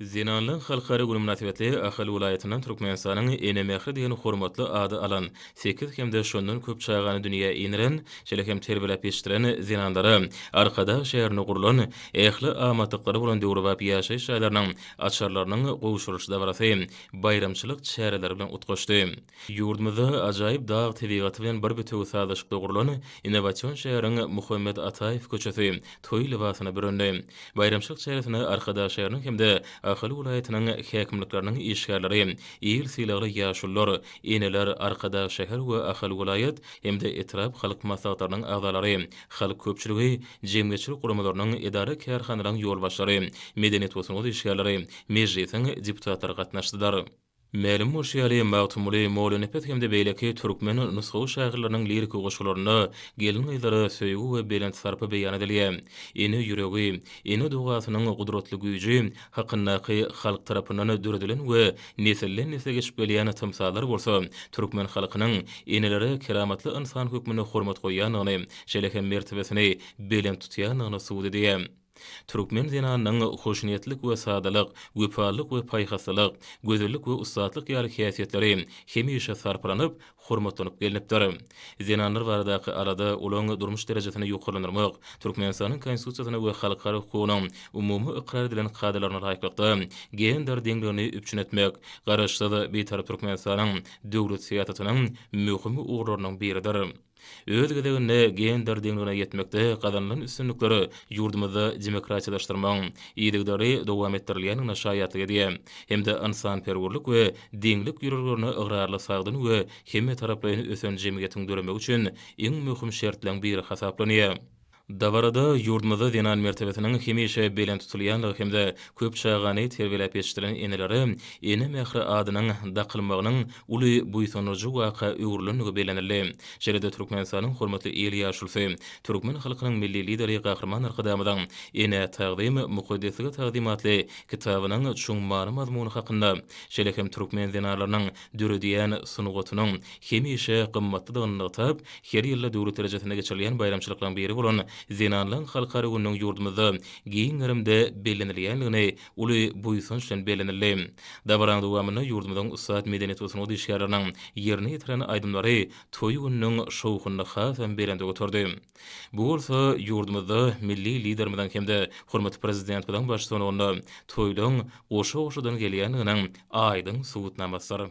Zenanlaryň halkara güni mynasybetli Ahal welaýatyndan Türkmenistanyň Ene mähri diýen hormatly ady alan, sekiz hem-de şondan köp çagany dünýä indiren, şeýle hem terbiýeläp ýetişdiren zenanlara Arkadag şäherinde gurlan ähli amatlyklary bolan döwrebap ýaşaýyş jaýlarynyň açarlarynyň gowşurylyş dabarasy baýramçylyk çäreleri bilen utgaşdy. Ýurdumyzda ajaýyp dag tebigaty bilen bir bitewi sazlaşykda gurlan innowasion şäheriň Muhammet Ataýew köçesi toý lybasyna bürendi. Baýramçylyk çäresine Arkadag şäheriniň hem-de Ahal welaýatynyň häkimlikleriniň işgärleri, il sylagly ýaşulular, eneler, Arkadag şäher we Ahal welaýat hem-de etrap halk maslahatlarynyň agzalary, halk köpçüligi, jemgyýetçilik guramalarynyň, edara-kärhanalaryň ýolbaşçylary, medeniýet we sungat işgärleri, Mejlisiň deputatlary gatnaşdylar. Mälim bolşy ýaly, Magtymguly Mollanepes hem-de beýleki türkmen nusgawy şahyrlarynyň liriki goşgularynda gelin-gyzlara söýgi we belent sarpa beýan edilýär. Ene ýüregi, ene dogasynyň gudratly güýji hakyndaky halk tarapyndan döredilen we nesilden-nesle geçip gelýän tymsallar bolsa türkmen halkynyň enelere keramatly ynsan hökmünde hormat goýýandygyny, şeýle hem mertebesini belent tutýandygyny subut edýär. Türkmen zenanynyň hoşniýetlik we sadalyk, wepalylyk we paýhaslylyk, gözellik we ussatlyk ýaly häsiýetleri hemişe sarpalanyp, hormatlanyp gelnipdir. Zenanlar baradaky alada, olaryň durmuş derejesini ýokarlandyrmak, Türkmenistanyň Konstitusiýasyna we halkara hukugynyň umumy ykrar edilen kadalaryna laýyklykda, gender deňligini üpjün etmek Garaşsyz, Bitarap Türkmenistanyň döwlet syýasatynyň möhüm ugurlarynyň biridir. Öz gezeginde, gender deňligine ýetmekde gazanylan üstünlikler ýurdumyzda demokratiýalaşdyrmagyň yzygiderli dowam etdirilýändigine şaýatlyk edýär hem-de ynsanperwerlik we deňlik ýörelgelerine ygrarly sagdyn we hemmetaraplaýyn ösen jemgyýetiň döremegi üçin iň möhüm şertleň biri hasaplanýar. Dabarada ýurdumyzda zenan mertebesiniň hemişe belent tutulýandygy hem-de köp çagany terbiýeläp ýetişdiren enelere Ene mähri adynyň dakylmagynyň uly buýsandyryjy waka öwrülendigi bellenildi. Şeýle-de Türkmenistanyň hormatly il ýaşulysy, türkmen halkynyň Milli Lideri Gahryman Arkadagymyzyň Enä tagzym, mukaddeslige tagzym atly kitabynyň çuň many-mazmuny hakynda, şeýle hem türkmen zenanlarynyň döredýän sungatynyň hemişe gymmatlydygyny nygtap, her ýylda döwlet derejesinde geçirilýän baýramçylyklaryň biri bolan Zenanlaryň halkara gününiň ýurdumyzda giň gerimde bellenilýändigini uly buýsanç bilen bellenildi. Dabaranyň dowamynda ýurdumyzyň ussat medeniýet we sungat işgärleriniň ýerine ýetiren aýdymlary toý gününiň şowhunyny hasam belende göterdi. Bu bolsa ýurdumyzda milli Liderimiziň hem-de hormatly Prezidentimiziň baştutanygynda toýlaryň goşa-goşadan gelýändiginiň aýdyň subutnamasydyr.